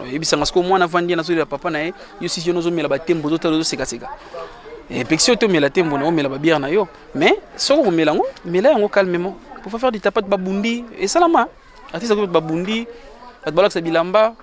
oyebisanga sikoyo mwana avandi na zolela papa na ye yo sisi yona ozomela batembo ozotala ozosekaseka epekisi eh, oyo tomela tembo na omela babiere na yo mais soki okomela yango mela yango calmement pour faire du tapate babundi esalama artiste akoki babundi bato balakisa bilamba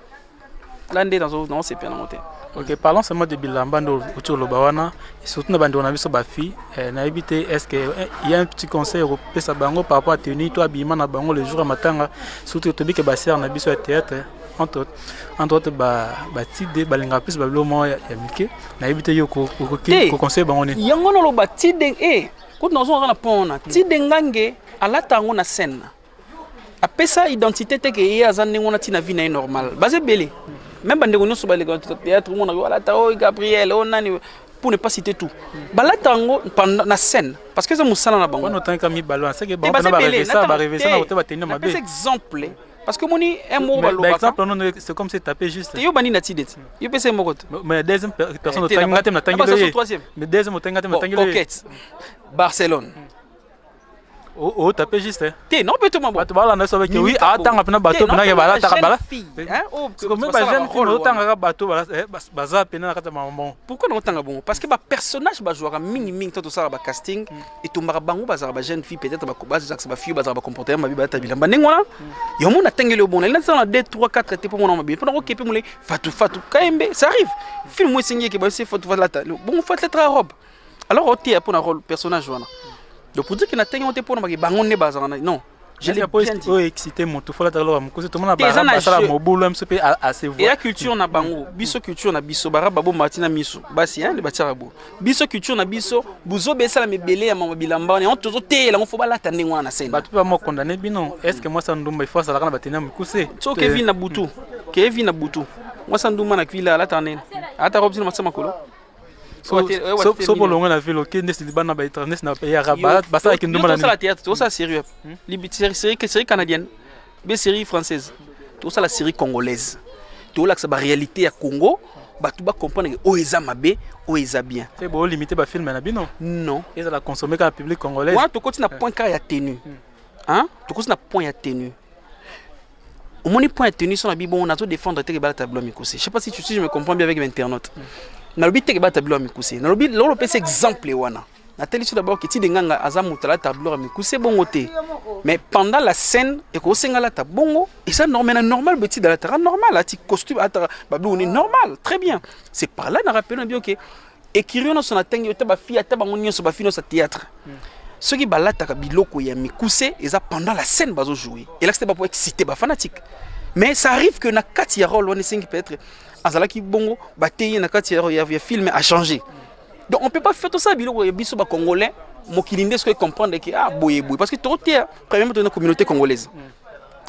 la nde nazosepela nango te ok parlons seulement de bilamba nde outi oloba wana surtout na bandeko na biso bafille eh, nayebi te est ce que eh, y a un petit conseil okopesa bango par rapport à tenue to abima na bango le jour ya matanga surtout tobike basere na biso ya théâtre entre autres entre autres ba ba tide balingaka plus babilo moko ya ya mike nayebi te yo ko- ko- ko- Te. koconseille bango nini yango naloba tide e kutu nazongaka na pont wana tide ngange alata yango na scène na apesa identité te ke ye aza ndenge wana ntina vie na ye normal baza ebele meme bandeko nyonso baleka théâtre omonaka yo alata oyo gabriel oyo nani pour ne pas citer tout balata yango pendant- na scène parce que eza mosala na bango wana otangika mibale wana seke Te, bango baza mpena ebele, barevesa nata- barevesa te. na kote bateni ya mabe Napesa exemple parce que moni un mot ba lobaka exemple non c'est comme c'est tapé juste yo bani na tide ti yo pese moko to mais deuxième personne eh, tanga tem na tangi le mais deuxième tanga tem na tangi le coquette Barcelone oh, oh tapé juste hein. te non peut-être mabo bato balanda so beke oui atanga pena bato pena ke balata ka bala hein oh comme ba jeune fille no tanga ka bato bala eh, baza pena na kata mambo pourquoi no tanga bon parce que ba personnage ba jouera mingi mingi to to sala ba casting hmm. etombaka bango bazalaka ba jeune fille peut-être bazakisa ba fille bazalaka ba comportement mabe balata bilamba ndenge wana yo mona tengeli yo bona elati na 2 3 4 te mpo mona mabe mpo nakokepe mole fatu fatu kayembe ça arrive film esengi eke bayose fatu falata bongo fatlatra robe alors oteya mpo na role personnage wana donc pour dire ke na tenge ote mpo na bake bango nde bazalaka non Je l'ai bien dit. Oyo excité moto faut lataka loka mukuse to mona ba ba sala mobulu mso pe à se voir. Et la culture na bango, biso culture na biso bara babo matina miso. Basi hein le batira bo. Biso culture na biso buzo besa la mebele ya mama bilamba on tozo te la faut balata ndenge wana scène. Ba tout ba mo condamner bino. Est-ce que moi ça ndumba il faut ça la kana batena mukuse. So Kevin na butu. Kevin na butu. Moi ça ndumba na kwila la tanene. Ata robzina masema kolo. so bolongwe na ville oke ndesi libanda na baetrage ndesi na pays arabe basalaki ndumba na tosala théâtre tosala série hmm? série canadienne be série française tosala série congolaise tolakisa baréalité ya congo bato bacomprendre oyo eza mabe oyo eza bien mpe bolimite bafilme na bino non ezala consomme kaka public congolais wana tokoti na point kaka ya tenue hmm. tokoti na point ya tenue omoni point ya tenue so na bibongo nazo défendre te ke balata bilo ya mikuse je sais pas si tu si je me comprends bien avec l'internaute nalobi te ke balata bilo ya mikuse nalobi lolo pesa exemple wana natelisi d'abord ke tide nganga aza moto alata bilo ya mikuse bongo te mais pendant la scène ekosenga alata bongo eza normal na normal boye tide alataka normal ati costume ataka babilo ni normal très bien c'est par là na rappelona bio ke Ecurie nyonso natangi yo te bafi ata bango nyonso bafi nyonso ya théâtre soki balataka biloko ya mikuse eza pendant la scène bazo jouer elakisi te bapo excité bafanatique mais ça arrive que na kati ya role wana esengi peut-être azalaki bongo bateyi ye na kati ya, ya, ya film a changer donc on peut pas faire tosala biloko ya biso bacongolais mokili nde soki comprendre ke ah boye boye parce que tokoteya premièrement tozana communauté congolaise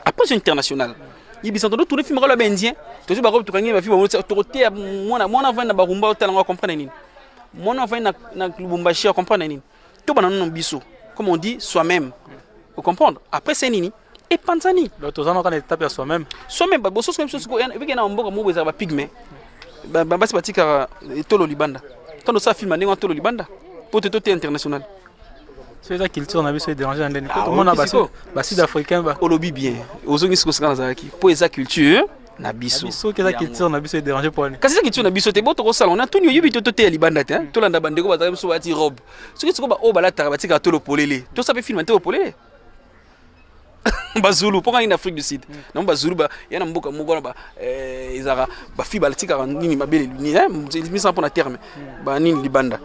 approche internationale yebisa tondo tourne film kala ba indien tozo bako tukangi ba film ba toko te mwana mwana vana ba rumba otala ngo comprendre nini mwana vana na na Lubumbashi a comprendre nini to bana non biso comme on dit soi-même vous comprendre après c'est nini et panzani donc tozo na kana étape ya soi-même soi-même ba bosso soi-même soko vike na mboka mo beza ba pygme ba basi batika eh, tolo libanda tondo sa film ndenge tolo libanda pote tote international soki eza culture na biso edérange na ndeni ah, tomona basud africain olobi bien ozongi siko sika nazalaki mpo eza culture na biso soki eza culture na biso edérange mpo ani kasi eza culture na biso te bo tokosala ona tuni oyebi to toteya libanda te hmm. tolanda bandeko bazalaki biso balati robe soki sikoyo baoyo balataka batikaka tolo polele tosala mpe filme te opolele bazulu mpo ngai na afrique du sud mm. namo bazulu ya na mboka moko wana eh, ezalaka bafi balatikaka nini mabele misana mpo na terme mm. banini libanda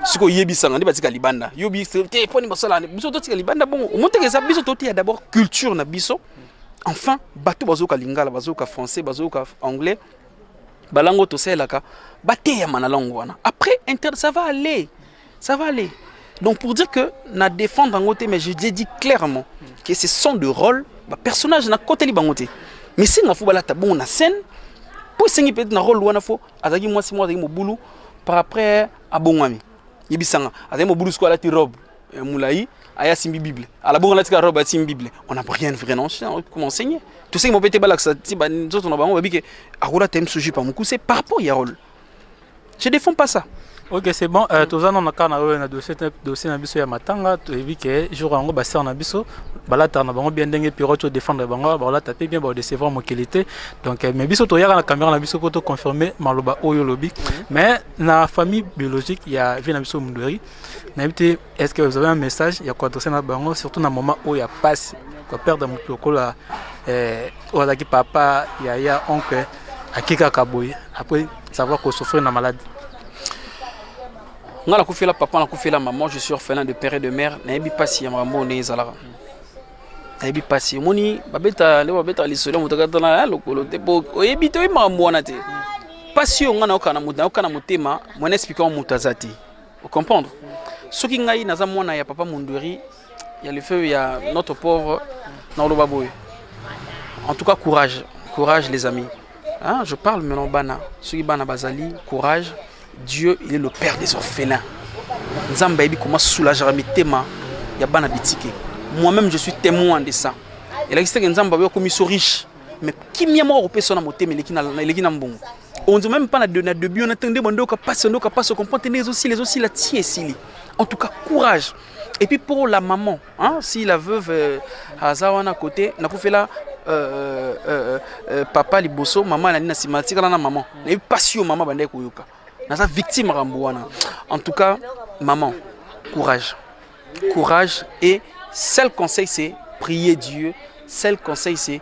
sikoyo oyebisanga nde batika libanda yo te mpo nini basala biso totika libanda bongo omoteke eza biso toteya d'abord culture na biso mm. enfin bato bazoyoka lingala bazoyoka français bazoyoka anglais balango tosalelaka bateyama na lango wana après inter ça va aller Ça va aller. Donc pour dire que na défendre bango te mais je l'ai dit clairement que ce sont de rôles ba personnage na koteli bango te. Mais si nga fo balata bon na scène pour sengi peut-être na rôle wana fo azaki moi si moi azaki mobulu par après abongami. Yebisanga azaki mobulu siko alati robe euh, mulayi aya simbi bible ala bongo alati ka robe asimbi bible on n'a rien vrai non comme enseigné. Tout ça mo peut-être balakisa ti ba nzoto na bango babike akola tem sujet pa mukuse par rapport ya rôle. Je défends pas ça. Ok, c'est bon. Euh, toza na kaka na oyo na dossier dossier na biso ya matanga, toyebi que jour yango ba sœur na biso balata na bango bien ndenge Pierrot to défendre bango, ba lata pe bien ba décevoir mokili te. Donc euh, mais biso toyaka na caméra na biso poto confirmer maloba oyo lobi. Mais na famille biologique ya vie na biso Mundweri, na yebite Est ce que vous avez un message ya koadresse na bango surtout na moment oyo ya mpasi koperdre moto lokola eh, oyo azalaki papa yaya oncle ake kaka boye après savoir kosouffrir na maladi nga nakufela papa nakufela maman je suis orphelin de père et de mère nayebi mpasi ya makambo oyo ndenge ezalaka nayebi mpasi omoni babeta nde babetaka lisolo ya moto kata na eh, lokolo te po oyebi te oyebi makambo wana te mpasi oyo nga nayoka na motema mwana esplika moto aza te Vous comprendre soki ngai naza mwana ya papa mondweri ya le feu ya notre pauvre naoloba boye en tout cas courage courage les amis hein, je parle maintenant bana soki bana bazali courage dieu il est le père des orphelins nzambe ayebi koma soulagera mitema ya bana bitike moi-même je suis témoin de ça elakisi teke nzambe akomi so riche mais kimia moko akopesa na motema eleki na mbongo on dit même pas na de na début on attendait bon donc passe donc passe comprend les aussi les aussi la tie sili en tout cas courage et puis pour la maman hein si la veuve euh, azawana côté na ko fait là euh, euh, euh, papa liboso maman na nina simatika na maman na yo passion maman bande koyoka naza victime rambo wana en tout cas maman courage courage et seul conseil c'est prier Dieu seul conseil c'est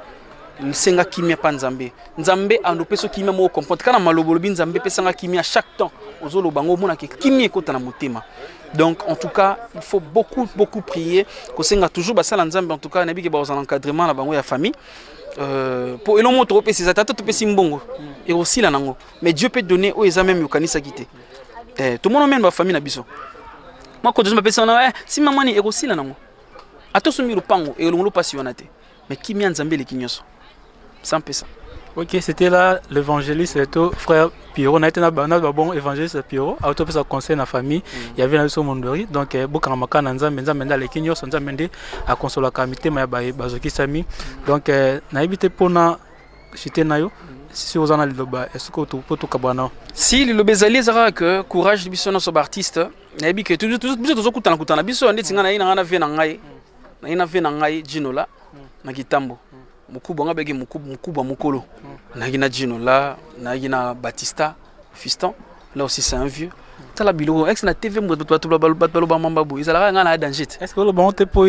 senga kimia mpa nzambe nzambe andopesa kimia moko comprendre kana maloba olobi nzambe pesanga kimia chaque temps ozoloba yango omonake kimia ekota na motema donc en tout cas il faut beaucoup beaucoup prier kosenga toujours basala nzambe en tout cas nayebi ke bakozala encadrement na bango ya famille euh, mpo elongo tokopesa eza tata topesi mbongo ekosila nango mais dieu peut donner oyo eza meme yokanisaki te eh tomono meme ba famille na biso makoto zo bapesa wana eh si mama ni ekosila nango ata osombi lopango elongolo mpasi wana te mais kimia nzambe eleki nyonso sans pesa Ok, c'était là l'évangéliste et tout, frère Pierrot. On a été dans le bon évangéliste Pierrot. A autopé sa conseil na famille. Mm. Il y avait un son mondori. Donc, eh, beaucoup de gens qui ont été dans le monde, ils ont été dans le monde, à consoler la comité, mais ils ont été dans le monde. Donc, eh, on a évité pour nous. chute na yo si oza na liloba est-ce que tu peux tout kabana si liloba ezali ezaka que courage biso na so ba artiste nayebi que toujours toujours biso tozo kutana kutana biso ndeti nga na ina nga na vie na ngai na ina vie na ngai Gino la na kitambo mukubwa nga beki mukubwa mukubwa mukolo na gina Gino la na gina Batista Fiston là aussi c'est un vieux tala biloko ex na tv moto bato baloba mamba boye ezalaka ngai na ya danger te est ce que oloba yango te mpo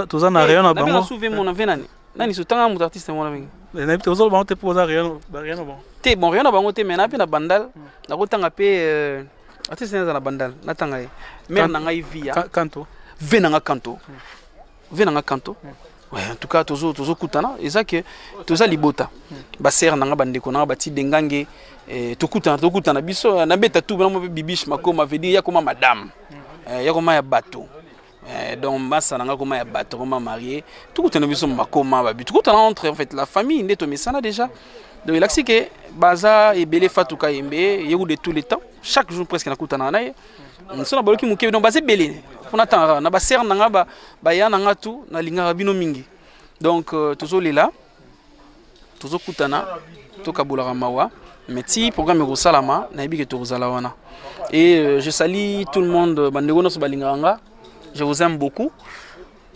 toza na rayon na bango na souve mona mpe nani nani so tanga moto artiste yango wana mingi eh, nayebi te ozoloba bango te mpo oza rien na bango te bon rien na bango te mais na mpe na bandal hmm. nakotanga mpe euh, artiste naye aza na bandal natanga ye mare na ngai via kanto ve na nga kanto hmm. ve na nga kanto hmm. Ouais, en tout cas tozo tozo kutana eza que toza libota ba sœur nanga ba ndeko nanga ba ti dengange eh, tokutana tokutana biso na beta tout na bibiche makoma veut dire ya koma madame eh, ya koma ya bateau Eh, donc mbasa na nga koma ya bato koma marie tokutana biso bakoma babi tokutana entre en fait la famille nde tomesana déjà donc elakisi ke baza ebele fatuka yembe yeku de tous les temps chaque jour presque nakutana na ye so na baloki moke donc baza ebele mpo natangaka na basere na nga baya na nga tu nalingaka bino mingi donc euh, tozolela tozokutana tokabolaka mawa mais ti programme ekosalama nayebi ke tokozala wana et euh, je sali tout le monde euh, bandeko nyonso balingaka nga je vous aime beaucoup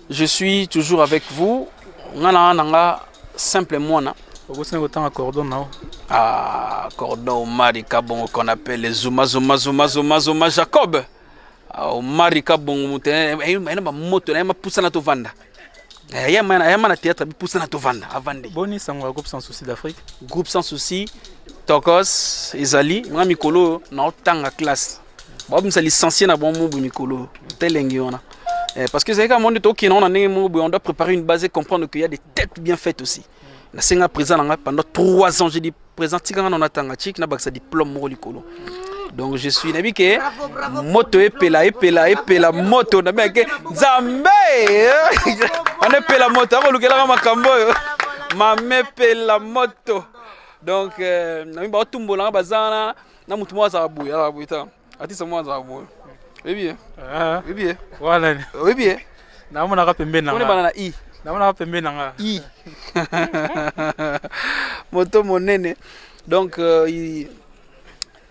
je suis toujours avec vous nga na na nga simple mwana okosina kotanga cordon nao ah cordon omari kabongo qu'on appelle zuma zuma zuma zuma zuma jacob ah, omari kabongo moto ayena bamoto na ye mapusana tovanda Eh, yama na théâtre abipusana tovanda avandi boni sango ya groupe sans souci d'afrique groupe sans souci tokos ezali mwa mikolo oyo naotanga classe babimisa licencie na bango mobu mikolo oyo telengi wana eh, parce que ezalaki kaka monde tokende yango na ndenge moko boye on doit préparer une base et comprendre qu'il y a des têtes bien faites aussi na senga président na ngai pendant 3 ans j'ai dit président tika nga na tanga chik na bakisa diplôme moko likolo donc je suis nabi ke moto epela epela epela moto na bien ke nzambe on epela moto ako lukela nga makambo yo mame epela moto donc euh, na mimi ba tumbola nga bazana na mutu mwa za boya la buita Atisa mwa za boyo. Oyebi ye? Ah. Oyebi ye? Wala ni. Oyebi ye? Na mona ka pembe na. Kone bana na i. Na mona ka pembe na nga. I. Moto monene. Donc euh, il...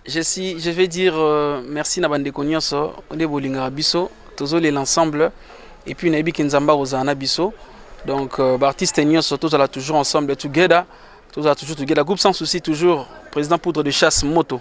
je suis je vais dire euh, merci na bande konyoso nde bolinga biso tozo les ensemble et puis na yebi ke nzamba kozana na biso. Donc euh, ba artiste nyoso tozala toujours ensemble together. Tozala toujours together. Groupe sans souci toujours président poudre de chasse moto.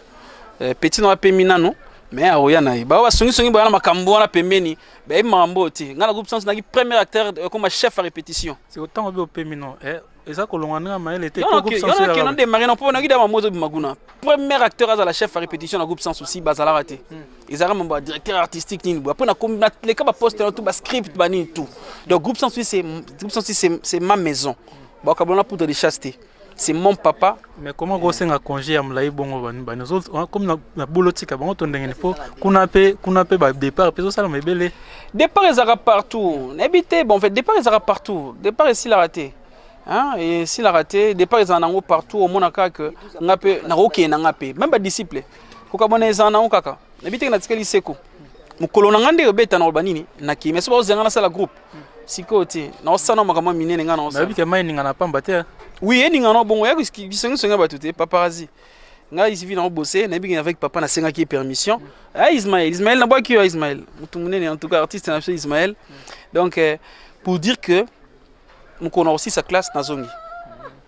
eh, petit na pemi nano mais akoya na ye baoyo basongisongi boya na makambo wana pembeni bayebi makambo oyo te ngai na groupe sans naki premier acteur ekoma chef ya répétition otango bi opemi no eh, eza kolonga ndenge mayele te yona demare na mpo naki dama mozo bima kuna premier acteur azala chef ya répétition na groupe sans souci bazalaka te hmm. ezalaka mambo ya directeur artistique nini boye après nakomi naleka baposte na tout bascript banini tout donc groupe sans souci c'est ma maison bakabona poudre de chasse te c'est mon papa mais comment ko senga congé ya mulayi bongo bani bani zo ah, comme na, na bolo tika bango to ndenge po kuna pe kuna pe ba départ pe zo sala mebele départ ezaka partout na bité bon fait départ ezaka partout départ ici la raté hein et si la raté départ ezaka nango partout au mona ka que nga pe na ko kena nga pe même ba disciples ko kamona ezaka nango kaka na bité na tikeli seko mokolo na ngai nde obeta na koloba nini nakimi esi bakozela ngai nasala groupe sikoyo te naosana makambo ya minene ngai naoyebi te mai eningana pamba te oui eningana bongo ya bisongisongi ya bato te paparazi ngai isivi na obose nayebi ke avec papa nasengaki ye permission a ah, ismael ismael nabwaki yo ismael motu monene en tout cas artiste na biso ismael donc euh, pour dire que mokolo na kosisa classe nazongi